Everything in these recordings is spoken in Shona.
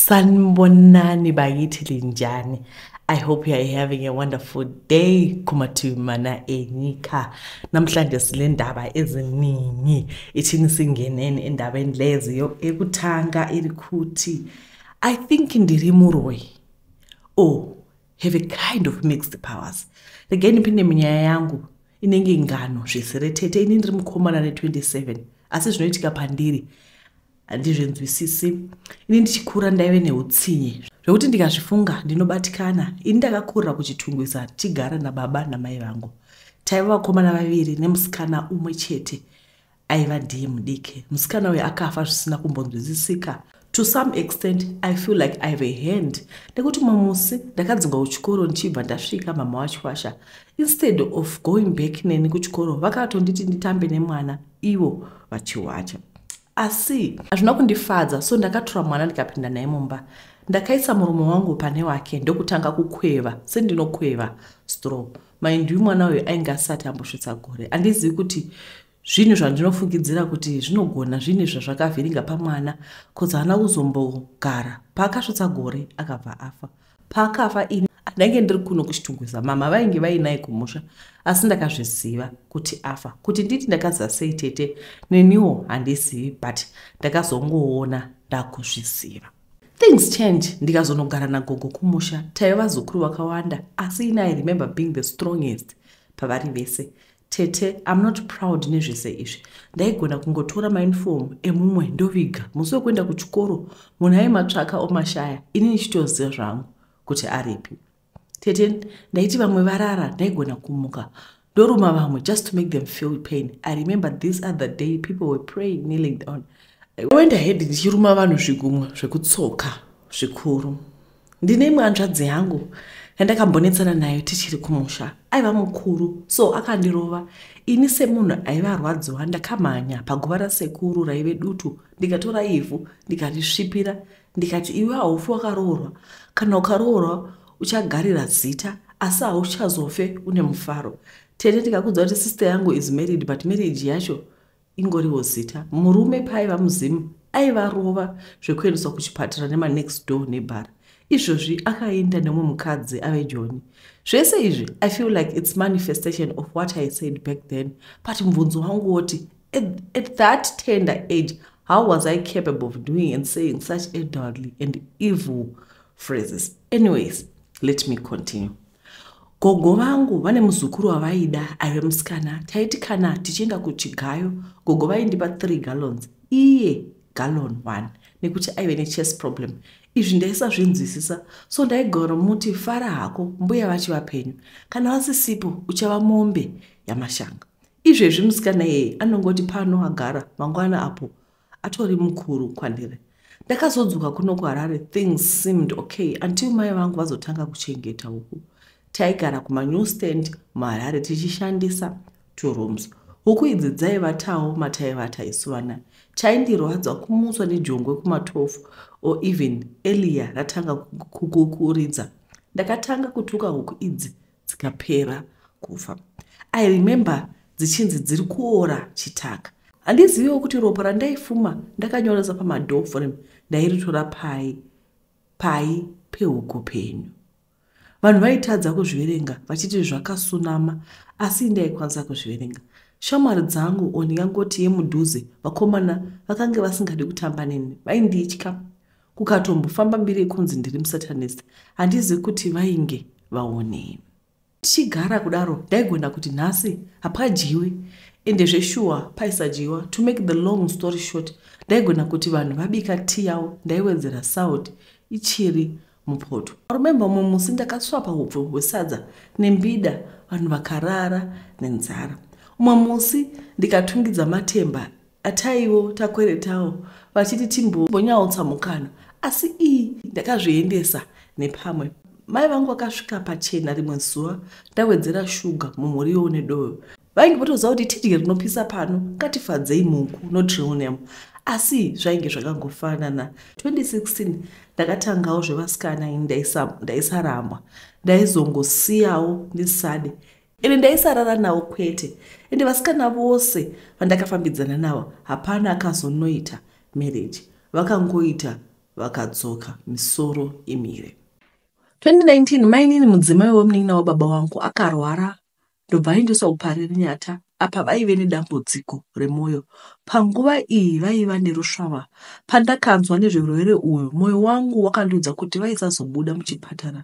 sanibonani bakithi linjani i hope you are having a wonderful day kumativi mana enyika namhlanje sile ndaba eziningi ithini singeneni endabeni leziyo ekutanga iri kuthi i think ndiri muroyi o oh, have a kind of mixed powers rege ndipinde munyaya yangu inenge ngano zvisiretete ini ndiri mukomana ne 27 asi zvinoitika pandiri handizvinzwisisi ini ndichikura ndaive neutsinye zvekuti ndikazvifunga ndinobatikana ini ndakakurira kuchitungwiza tichigara nababa namai vangu taiva vakomana vaviri nemusikana umwe chete aiva ndiye mudiki musikana uyo akafa zvisina kumbonzwisisika to some extent i feel like i have a hand nekuti mumwe musi ndakadzingwa kuchikoro ndichibva ndasvika mama wachikwasha instead of going back neni kuchikoro vakatonditi nditambe nemwana ivo vachiwacha asi hazvina kundifadza so ndakatora mwana ndikapinda naye mumba ndakaisa murume wangu pane wake ndokutanga kukweva sendinokweva stro mind you mwana uyu ainge asati ambosvitsa gore andizivi kuti zvinhu zvandinofungidzira kuti zvinogona zvinhu zvazvakavhiringa pamwana bcause haana kuzombogara paakasvitsa gore akabva afa paakafa ini ndainge ndiri kuno kuchitungwiza mama vainge vainaye kumusha asi ndakazviziva kuti afa kuti nditi ndakaziva sei tete neniwo handizivi but ndakazongoona ndakuzviziva things change ndikazonogara nagogo kumusha taive vazukuru vakawanda asi ini i remember being the strongest pavari vese Tete, I'm not proud nezvese izvi. Ndaigona kungotora mauniform emumwe ndoviga. Musi wekuenda kuchikoro munhu aimatsvaka omashaya ini ndichitoziva zvangu kuti aripi. Tete, ndaiti vamwe varara ndaigona kumuka ndoruma vamwe just to make them feel pain. I remember this other day people were praying kneeling down. I went ahead ndichiruma vanhu zvigumwa zvekutsoka zvikuru. ndine imwe hanzvadzi yangu yandakambonetsana nayo tichiri kumusha aiva mukuru so akandirova ini semunhu aive arwadziwa ndakamhanya paguva rasekuru raive dutu ndikatora ivhu ndikarisvipira ndikati iwe haufi wakaroorwa kana ukaroorwa uchagarira zita asi hauchazofe une mufaro tete ndikakudza kuti sister yangu is married but marriage yacho ingoriwo zita murume paaiva muzimu aivarova zvekuendeswa kuchipatara nemanext door nebhara izvozvi akaenda nemwe mukadzi ave joni zvese izvi i feel like its manifestation of what i said back then but mubvunzo wangu woti at, at that tender age how was i capable of doing and saying such elderly and evil phrases anyways let me continue gogo vangu vane muzukuru wavaida aive musikana taiti kana tichienda kuchigayo gogo vaindipa three gallons iye gallon one nekuti aive nechess problem izvi ndaisazvinzwisisa so ndaigaromuti fara hako mbuya vachi vapenyu kana vasisipo uchava mombe yamashanga izvezvi musikana yeye anongoti pano agara mangwana apo atori mukuru kwandiri ndakazodzoka kuno kuharare things seemed okay until mai vangu vazotanga kuchengeta huku taigara kumanew stand muharare tichishandisa two rooms huku idzi dzaivatawo mataivata isu vana chaindirwadza kumutswa nejongwe kumatofu or even elia ratanga kukuridza ndakatanga kutuka huku idzi dzikapera kufa i remember dzichinzi dziri kuora chitaka handizivewo kuti ropa randaifuma ndakanyoresa pamadoor frame ndairitora pai pai pehuku penyu vanhu vaitadza kuzviverenga vachiti zvakasunama asi ndaikwanisa kuzviverenga shamwari dzangu o ndingangoti yemudhuze vakomana vakange vasingadi kutamba neni vainditya kukatombofamba mbiri yekunzi ndiri musatanist handizivi kuti vainge vaonei tichigara kudaro ndaigona kuti nhasi hapadyiwe ende zveshuwa paisadyiwa to make the long story short ndaigona kuti vanhu vabika ti yavo ndaiwedzera salt ichiri mupoto aremembe umwe musi ndakaswapa upfu hwesadza nembida vanhu vakarara nenzara umwe musi ndikatungidza matemba ataiwo takweretawo vachiti timbombonyautsa mukana asi iyi ndakazviendesa nepamwe mai vangu vakasvika pachena rimwe zuva ndawedzera shuga mumuriwo nedoyo vainge votoziva kuti tidye rinopisa pano ngatifadzei muku notrionam asi zvainge zvakangofanana 2016 ndakatangawo zvevasikana ini ndaisaramwa ndaizongosiyawo ndisade ini ndaisarara nawo kwete ende vasikana vose vandakafambidzana nawo hapana akazonoita marriage vakangoita vakadzoka misoro imire 2019 mainini mudzimai wemunin'ina wababa wangu akarwara ndobva aendeswa kuparirinyata apa vaive nedambudziko remwoyo panguva iyi vaiva nerusvava pandakanzwa nezverwere uyu mwoyo wangu wakandiudza kuti vaisazobuda muchipatara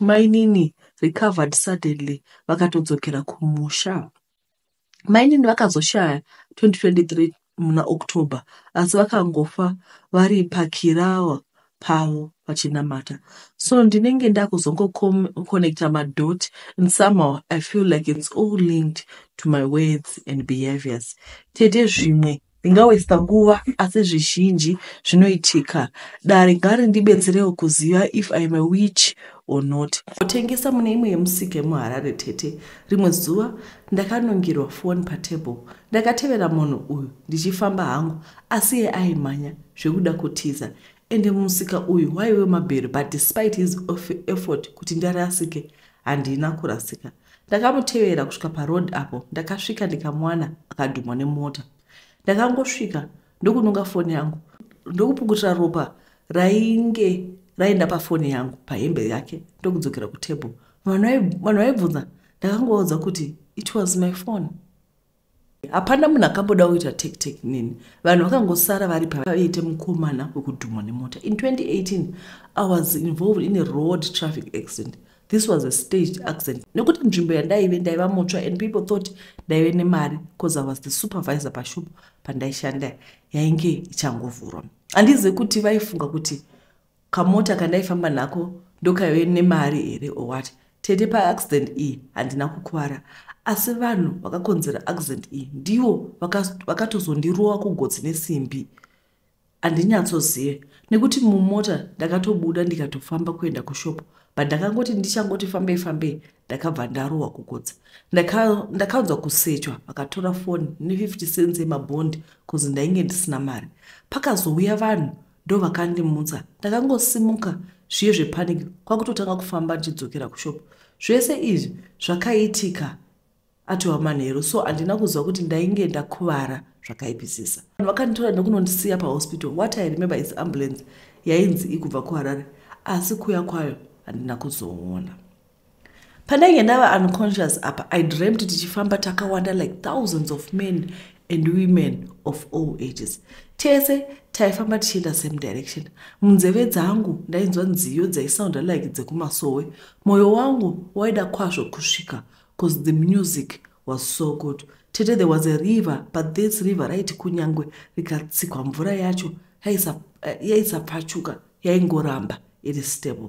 Mainini recovered suddenly vakatodzokera kumusha. Mainini vakazoshaya 2023 muna October asi vakangofa vari pakirawa pavo vachinamata so ndinenge ndakuzongoconnecta madot and somehow i feel like its all linked to my words and behaviors tete zvimwe ndingawesta nguva asi zvizhinji zvinoitika dare ngari ndibetserewo kuziva if im a witch or not kutengesa mune imwe yemusika yemuharare tete rimwe zuva ndakanongirwa foni patable ndakatevera munhu uyu ndichifamba hangu asi ye aimhanya zvekuda kutiza ende musika uyu waive mabhero but despite his effort kuti ndarasike handina kurasika ndakamutevera kusvika paroad apo ndakasvika ndikamwana akadhumwa nemota ndakangosvika ndokunonga foni yangu ndokupukutira ropa rainge raenda pafoni yangu pahembe yake ndokudzokera kutable vanhu vaibvunza ndakangovaudza kuti it was my phone hapana munhu akamboda kuita take take nini vanhu vakangosara vari pavaiite mukomana wekudhumwa nemota in 2018 i was involved in a road traffic accident this was a staged accident nekuti nzvimbo yandaive ndaiva mutsva and people thought ndaive nemari bcause i was the supervisor pashop pandaishanda yainge ichangovhurwa handizive kuti vaifunga kuti kamota kandaifamba nako ndokaive nemari here or what tete paaccident iyi handina kukuvara asi vanhu vakakonzera accident iyi ndivo vakatozondirova kugotsi nesimbi handinyatsozive nekuti mumota ndakatobuda ndikatofamba kuenda kushopo but ndakangoti ndichangoti fambei fambei ndakabva ndarohwa kugotsi ndakaunzwa kusechwa vakatora foni ne50 cents yemabhondi bcause ndainge ndisina mari pakazouya vanhu ndovakandimutsa ndakangosimuka zviye zvepaniki kwakutotanga kufamba ndichidzokera kushop zvese izvi zvakaitika atova manheru so handina kuziva kuti ndainge ndakuvara zvakaipisisa vanhu vakanditora nekunondisiya pahospital what i remember is ambulance yainzi ikubva kuharare asi kuya kwayo handina kuzoona pandainge ndava unconscious apa i dreamt tichifamba takawanda like thousands of men and women of all ages tese taifamba tichienda same direction munzeve dzangu ndainzwa nziyo dzaisounda like dzekumasowe mwoyo wangu waida kwazvo kusvika bcause the music was so good tete there was a river but this river raiti kunyangwe rikatsikwa mvura yacho yaisapfachuka yaingoramba iri stable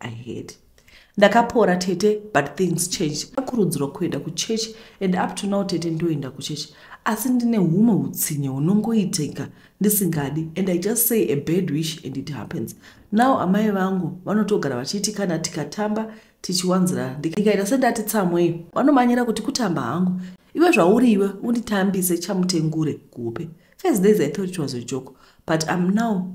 i heard ndakapora tete but things change akurudzirwa kuenda kuchechi and up to now tete ndoenda kuchechi asi ndine humwe utsinye hunongoitika ndisingadi and i just say a bad wish and it happens now amai vangu vanotogara vachiti kana tikatamba tichiwanzirana ndikaita sendati tsamwei vanomanyira kuti kutamba hangu iwe zvauri iwe unditambise chamutengure kupe first days i thought it was a joke but im now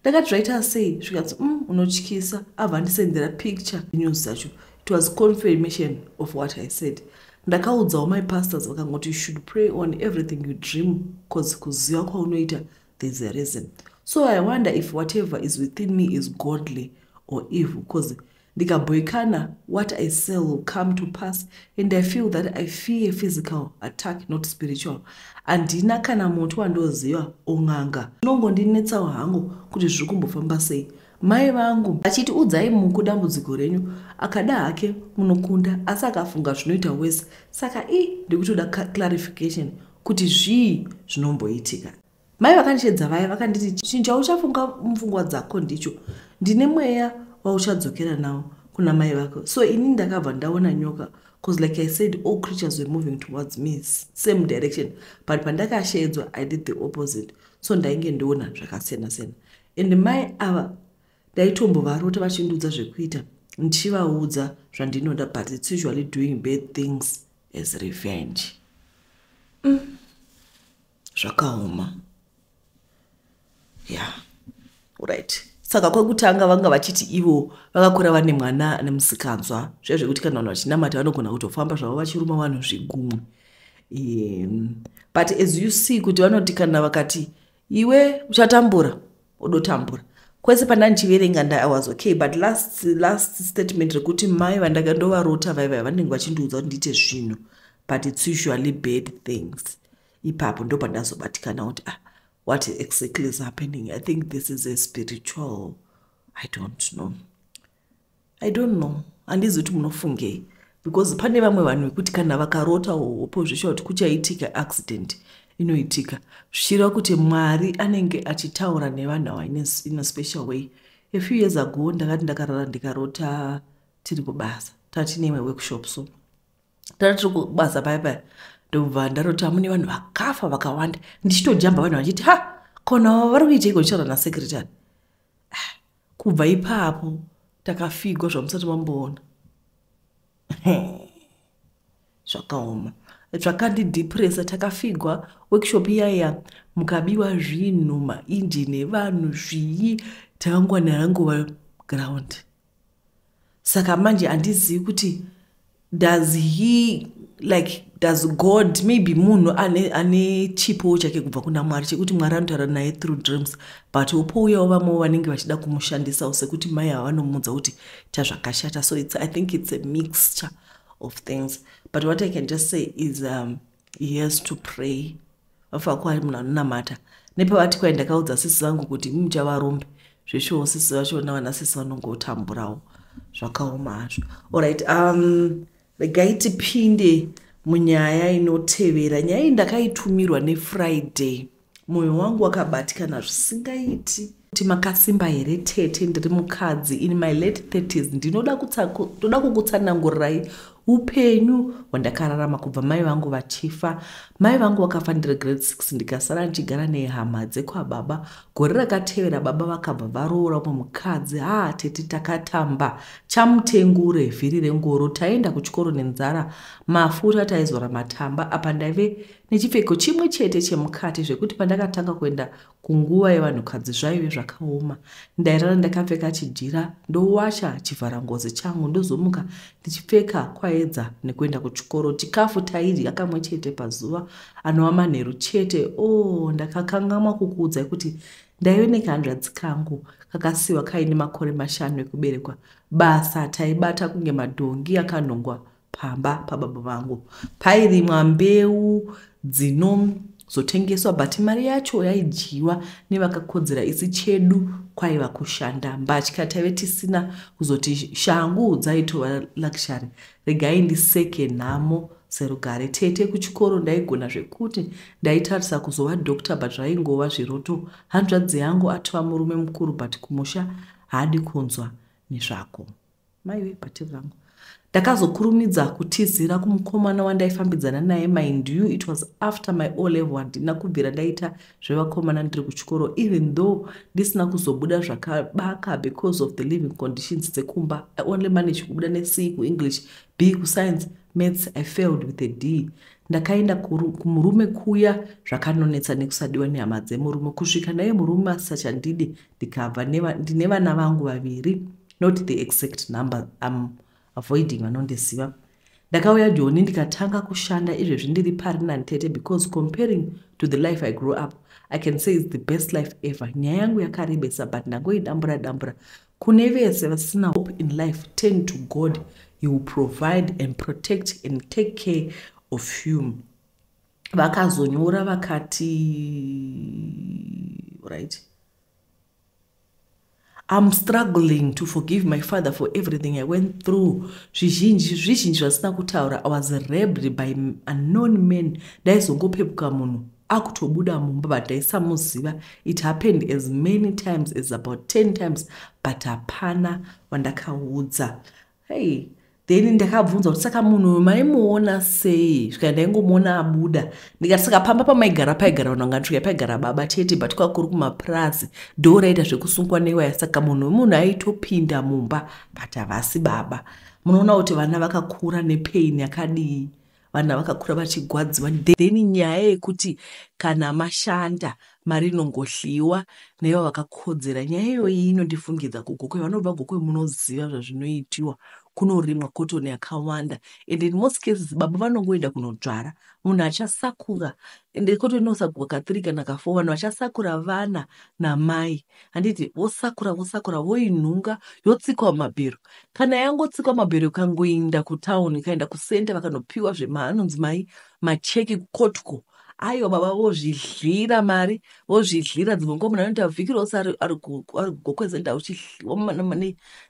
ndakati zvaita sei zvikanzi um mm, unotyisa abva andisendera picture news dzacho it was confirmation of what i said ndakaudzawo my pastors vakangoti you should pray on everything you dream bcause kuziva kwaunoita thereis a reason so i wonder if whatever is within me is godly or evil bcause ndikabhoikana what i sell will come to pass and i feel that i fear physical attack not spiritual handina kana muti wandoziva on'anga zvinongondinetsawo hangu kuti zviri kumbofamba sei mai vangu achiti udzai muku dambudziko renyu akada hake munokunda asi akafunga zvinoita wese saka i ndikutoda clarification kuti zvii zvinomboitika mai vakandishedza vaya vakanditi chinhu chauchafunga mupfungwa dzako ndicho ndine mweya wauchadzokera nawo kuna mai vako so ini ndakabva ndaona nyoka bcause like i said all creatures were moving towards me same direction but pandakasheedzwa i did the opposite so ndainge ndoona zvakasiyana siyana and mai ava ndaitombovarota vachindiudza zvekuita ndichivaudza zvandinoda but its usually doing bad things as revenge mm. zvakaoma ya yeah. right saka kwekutanga vanga vachiti ivo vakakura vane mwana ane musikanzwa zviya zvekuti kana vanhu vachinamata vanogona kutofamba zvavo vachiruma vanhu zvigumwe um, but as you see kuti vanoti kana vakati iwe uchatambura odotambura kwese pandandichiverenga nda was okay but last last statement rekuti mai vandanga ndovarota vaiva vanenge vachindiudza kuti ndiite zvinhu but its usually bad things ipapo ndo pandazobatikana kuti ah what exactly is happening i think this is a spiritual i don't know i don't know handizi kuti munofungei because pane vamwe vanhu vekuti kana vakarota hopo zvichia kuti kuchaitika accident inoitika zvichireva kuti mwari anenge achitaura nevanhu ava in a special way a few years ago ndakati ndakarara ndikarota tiri kubasa tatineimwe workshop so tana tiri kubasa paya paya ndobva ndarota mune vanhu vakafa vakawanda ndichitojamba vanhu vachiti ha kona vari kuiteiko ndichara nasecretary ah, kubva ipapo takafigwa zvamusati mamboona zvakaoma zvakandidhipresa takafigwa workshop iyaya mukabiwa zvinhu mainjini evanhu zvii takangwana rangova ground saka manje handizivi kuti does he like does god maybe munhu ane, ane chipowo chake kubva kuna mwari chekuti mwari anotaura naye through dreams but opouyawo vamwewo vanenge vachida kumushandisawo sekuti mai ava vanomuudza kuti ta zvakashata so it's, i think it's a mixture of things but what i can just say is um, he has to pray vafako ari munhu anonamata nepavati kwai ndakaudza sisi vangu kuti imi muchavarombe zveshuwo sisi vacho navana sisi vanongotamburawo zvakaoma hazvo orit um, regai tipinde munyaya inotevera nyaya iyi ndakaitumirwa nefriday mwoyo wangu wakabatikana zvisingaiti kuti makasimba here tete ndiri mukadzi in my late 30s ndinoda ndoda kukutsanangurirai upenyu hwandakararama kubva mai vangu vachifa mai vangu vakafa ndiri grade 6 ndikasara ndichigara nehama dzekwababa gore rakatevera baba vakabva varoora umwe mukadzi haa tete takatamba chamutengure vhiri rengoro taienda kuchikoro nenzara mafuta taizora matamba apa ndaive nechipfeko chimwe chete chemukati zvekuti pandakatanga kuenda kunguva yevanhukadzi zvaive zvakaoma ndairara ndakapfeka chijira ndowacha chivhara ngozi changu ndozomuka ndichipfeka kwaedza nekuenda kuchikoro chikafu taidya kamwe chete pazuva anova manheru chete o oh, ndakakangamwa kukuudzai kuti ndaive nekahanzvadzi kangu kakasiwa kaine makore mashanu ekuberekwa basa taibata kunge madhongi akanhongwa pamba pababa vangu pairimwa mbeu dzinozotengeswa but mari yacho yaidyiwa nevakakodzera isi chedu kwaiva kushanda mbatya taive tisina kuzoti shangu dzaitova luxury regai ndiseke nhamo serugare tete kuchikoro ndaigona zvekuti ndaitarisa kuzova doctor but zvaingova zviroto hanzvadzi yangu atova murume mukuru but kumusha haadi kunzwa nezvako maive bhati rangu ndakazokurumidza kutizira kumukomana wandaifambidzana naye mind you it was after my o level handina kubvira ndaita zvevakomana ndiri kuchikoro even though ndisina kuzobuda zvakabaka because of the living conditions dzekumba i only manage kubuda nec kuenglish b kuscience maths i failed with a d ndakaenda kumurume kuya zvakanonetsa nekusadiwa nehama dzemurume kusvika naye murume asisachandidi ndikabva ndine vana vangu vaviri not the exact number am avoiding vanondiziva ndakauya joni ndikatanga kushanda izvezvi ndiri pari nantete because comparing to the life i grew up i can say its the best life ever nyaya yangu yakarebesa but ndangoidambura dambura kune vese vasina hope in life turn to god he will provide and protect and take care of you vakazonyora vakati right I'm struggling to forgive my father for everything I went through. Zvizhinji zvizhinji zvasina kutaura I was raped by unknown men. Ndaizongopepuka munhu akutobuda mumba but ndaisamuziva. It happened as many times as about 10 times but hapana wandakaudza. hey then ndakabvunza kuti saka munhu uyu maimuona sei zvika ndaingomuona abuda ndikati saka pamba pamaigara paigara vanhu vangatsvika paigara baba chete but kwakuri kumapurazi ndo raita zvekusungwa newaya saka munhu wemunhu aitopinda mumba but havasi baba munoona kuti vana vakakura nepain yakadii vana vakakura vachigwadziwa then nyaya yekuti kana mashanda mari inongohliwa naiva vakakodzera nyaya iyoyi inondifungidza kugokwe vanobva gokwe munoziva zvazvinoitiwa kunorimwa kotoni yakawanda and in most cases baba vanongoenda kunodzvara munhu achasakura and kotoni inosakura kathre kana kafo vanhu vachasakura vana namai handiti vosakura vosakura voinhunga yotsikwa mabhero kana yangotsikwa mabhero ikangoinda kutown ikaenda kusenta vakanopiwa zveanonzi mai macheki kotko aiwa baba vozvidlira mari vozvidlira dzimwe nguva munhu anoita vhiki rose ari kugokwezenda uchidliwa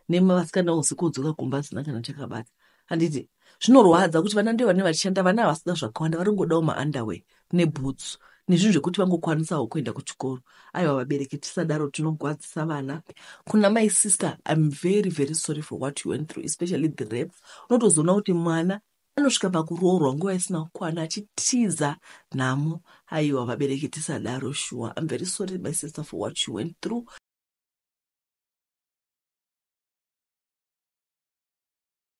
nemasikana usi kudzoka kumba asina kana chakabata handiti zvinorwadza kuti vana ndivo vane vachishanda vana havasina zvakawanda varingodawo maunderway nebhutsu nezvinhu zvekuti vangokwanisawo kuenda kuchikoro aiwa vabereki tisadaro tinogwadzisa vana kuna my sister im very very sorry for what you went through especially the rape unotozoona kuti mwana anosvika pakuroorwa nguva isina kukwana achitiza nhamo aiwa vabereki tisadaro shuwa im very sorry my sister for what you went through